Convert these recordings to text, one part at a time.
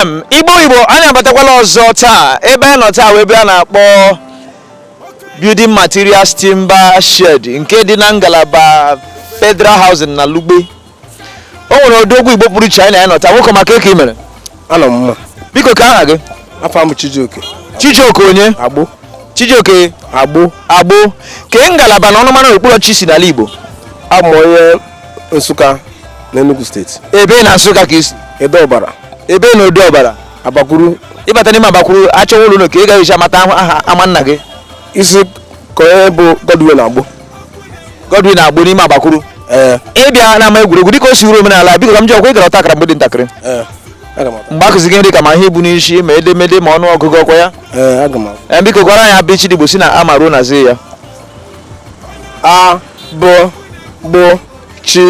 FM Igbo Igbo anyị abatakwala ọzọ taa ebe anyị nọ taa wụ ebe a na-akpọ building materials timber shed nke dị na ngalaba federal housing na lugbe o nwere odogwu igbo pụrụ iche anyị na ya nọ taa nwoke ọma kee ka i mere anọ m mma biko kee aha gị afa m Chijioke chijioke onye agbo chijioke agbo agbo kee ngalaba na ọnụmara okpuru ọchịchị i si n'ala igbo abụ m onye Nsụka na Enugu steeti ebee na Nsụka ka i si Ede Ọbara ebee na Ede Ọbara Abakwuru ị bata n'ime Abakwuru a chọwa ụlọ ka a ga-esi mata aha ama nna gị ị sị kee onye bụ Godwin Agbo Godwin Agbo n'ime Abakwuru ee ị bịa n'ama egwuregwu dịka o si uru omenala biko ka m jụọ gị ọkwa ị gara ọta akara mgbe ị dị ntakịrị ee aga m mgbe a kụziri gị nri ka ma ihe ibu n'isi ma edemede ma ọnụ ọgụgụ ọkwa ya ee aga m ee biko gụara anyị a bị chị dị Igbo si na a ma ruo na zi ya a bụ gbụ chi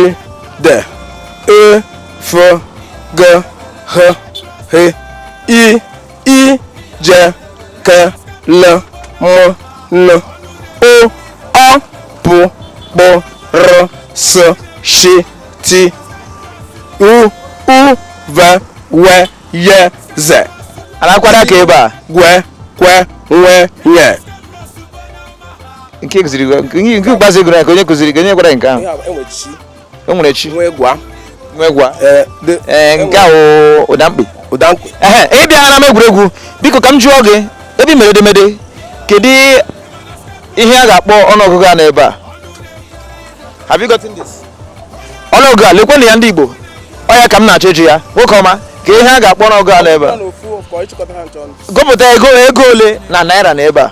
de e fo ge ghe he i ị je ke le mo no o ọ pụ kpụ rụ sụ shi ti u ụ ve we ye ze alakwara ka ebe a gwe kwe nwe nye nke kụziri gị- nke nke ikpeazụ ị gụrụ ya kee onye kụziri gị onye gwara gị nke ahụ o nwere chi nwe gwa nwe gwa ee nke a wụ ụda mkpi ụda mkpi ehe ị bịa n'ama egwuregwu biko ka m jụọ gị ebe i mere edemede kedu ihe a ga-akpọ ọnụọgụgụ a n'ebe a Have you gotten this? ọnụọgụgụ a lekwenụ ya ndị igbo ọ ya ka m na-achọ ịjụ ya nwoke ọma kee ihe a ga-akpọ ọnụọgụgụ a n'ebe a gụpụta ego ego ole na naira na ebe a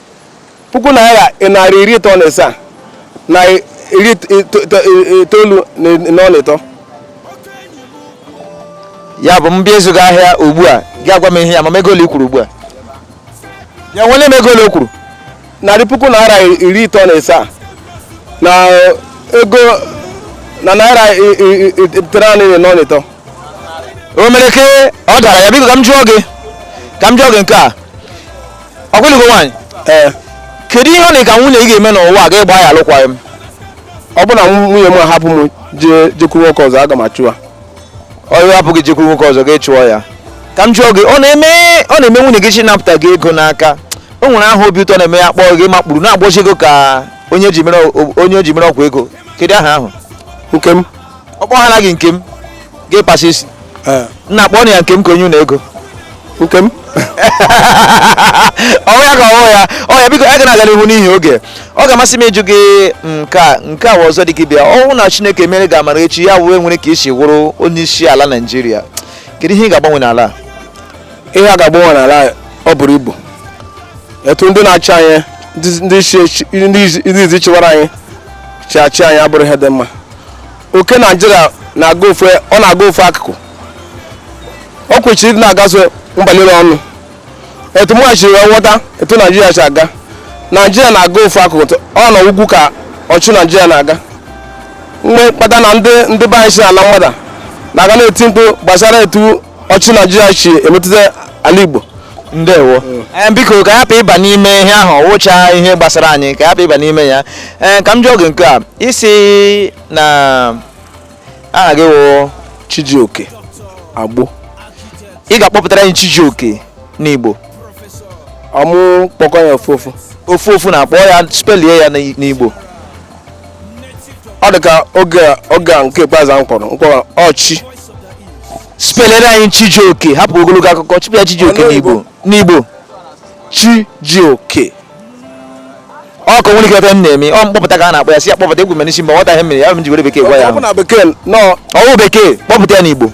puku naira narị iri ịtọ na ịsaa na iri itoolu na ọla ịtọ ya bụ m bịa ịzụ gị ahịa ugbu a gị agwa m ihe ya ma ego ole i kwuru ugbu a ya nwere m ego ole i kwuru narị puku naira iri ịtọ na ịsaa na ego na naira itenaanị na ọla ịtọ o mere ke ọ dara ya biko ka m jụọ gị ka m jụọ gị nke a ọkwa ị lụgo nwaanyị ee kedu ihe ọ na ka nwunye gị ga-eme n'ụwa a gị agba ya alụkwaghị m ọ bụrụ na nwunye m ahapụ m jee jekwuru nwoke ọzọ aga m achụ ya ọrụ hapụ gị jekwuru nwoke ọzọ gị achụọ ya ka m jụọ gị ọ na-eme ọ na-eme nwunye gị chọọ ịnapụta gị ego n'aka o nwere aha obi ụtọ ọ na-eme ya kpọọ gị makpuru na-agbọzi ego ka onye e ji mere o- onye e ji mere ọgwụ ego kedu aha ahụ nke m ọkpọ ha naghị nke m ga-ekpasa isi eh. nna kpọọ ya nke m ka onye ụlọ ego nke m ọ wụ ya ka ọ wụ ya ọ ya biko a ga na-aga n'ihu n'ihi oge ọ ga-amasị m ịjụ gị nke a nke a ọzọ dị gị bịa ọ wụ na chineke mere gị amara echi ya wee nwere ka i si wụrụ onye isi ala naijiria kedu ihe ị ga-agbanwe n'ala ihe a ga-agbanwe n'ala ọ bụrụ ibu etu ndị na-achị anyị ndị isi chịwara anyị si achị anyị abụrọ ihe dị mma oke naijiria na-aga ofu ọ na-aga ofu akụkụ ọ kwesịrị ịdị na-agaso mba nile ọnụ etu mụwa si wee ghọta etu naijiria si aga naijiria na-aga ofu akụkụ tụ- ọ n'ugwu ka ọchịchị naijiria na-aga mgbe mkpata na ndị ndị be anyị si ala mmadụ na-aga na-eti mkpu gbasara etu ọchịchị naijiria si emetụta ala igbo ndewo ee biko ka anyị hapụ ịba n'ime ihe ahụ wụcha ihe gbasara anyị ka anyị hapụ ịba n'ime ya ee ka m jụọ gị nke a ị sị na aha gị wụ chijioke agbo ị ga-akpọpụtara anyị chijioke n'igbo ọ mụ kpọkọ ya ofu ofu ofu ofu na-akpọ ya spelie ya n'igbo ọ dị ka oge a- oge a nke ikpeazụ ahụ kpọrọ mkpọrọ ọchị spelere anyị chijioke hapụ ogologo akụkọ chipụ ya chijioke ọ wụ n'igbo n'igbo chi ji oke ọ ka nwere ike ebe m na-eme ọ m kpọpụta ka a na-akpọ ya si ya kpọpụta egwu mere isi mgbe nwata ihe mere ya m ji were bekee gwa ya ọ bụ ahụ na bekee nọ ọ wụ bekee kpọpụta ya n'igbo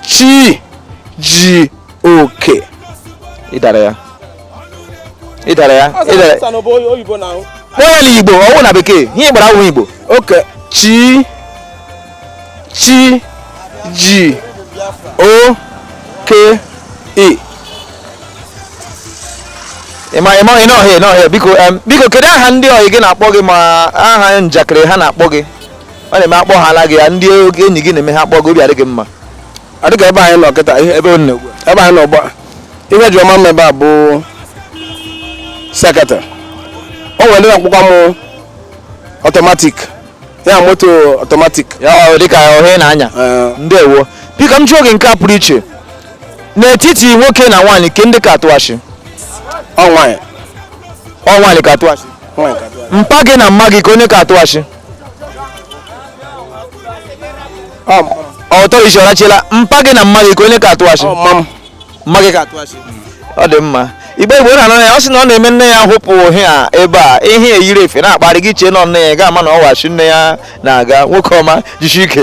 chi ji oke ị dara ya ị dara ya ị dara Ọsọ bụ onye oyibo na ahụ. kpọọ ya n'igbo ọ wụ na bekee ihe ị gbara awụ igbo oke chi chi ji o ke e ịma ịma ị nọ hịa nọ hịa biko em, biko kedu aha ndị ọyị gị na-akpọ gị ma aha njakịrị ha na-akpọ gị ọ na-eme a kpọhala gị ya ndị enyi gị na-eme ha kpọọ gị obi adị gị mma a dịka ebe anyị nọ kịta ihe ebe ọ na-egbu ebe anyị nọ gba ihe ji ọma mma ebe a bụ seketị o nwere ndị na-akpọkwa m automatic ya moto automatic ya ọ dịka ọ ihe ị na-anya Eh. ndewo biko ka m jụọ gị nke a pụrụ iche n'etiti nwoke na nwaanyị kee ndị ka atụ asị ọ nwaanyị ọ nwaanyị ka atụ asị nwaanyị ka dị. mpa gị na mma gị kee onye ka atụ asị ọtọrọ isi ọrachila mpa gị na mma gị kee onye ka atụ asị mma gị ka atụ asị ọ dị mma igbo igbo na anọ ya ọ sị na ọ na-eme nne ya hụpụ ha ebe a ihe eyiri efe na-akparị gị chee na nne ya ga-ama na ọ wụ asị nne ya na-agha nwoke ọma jisi ike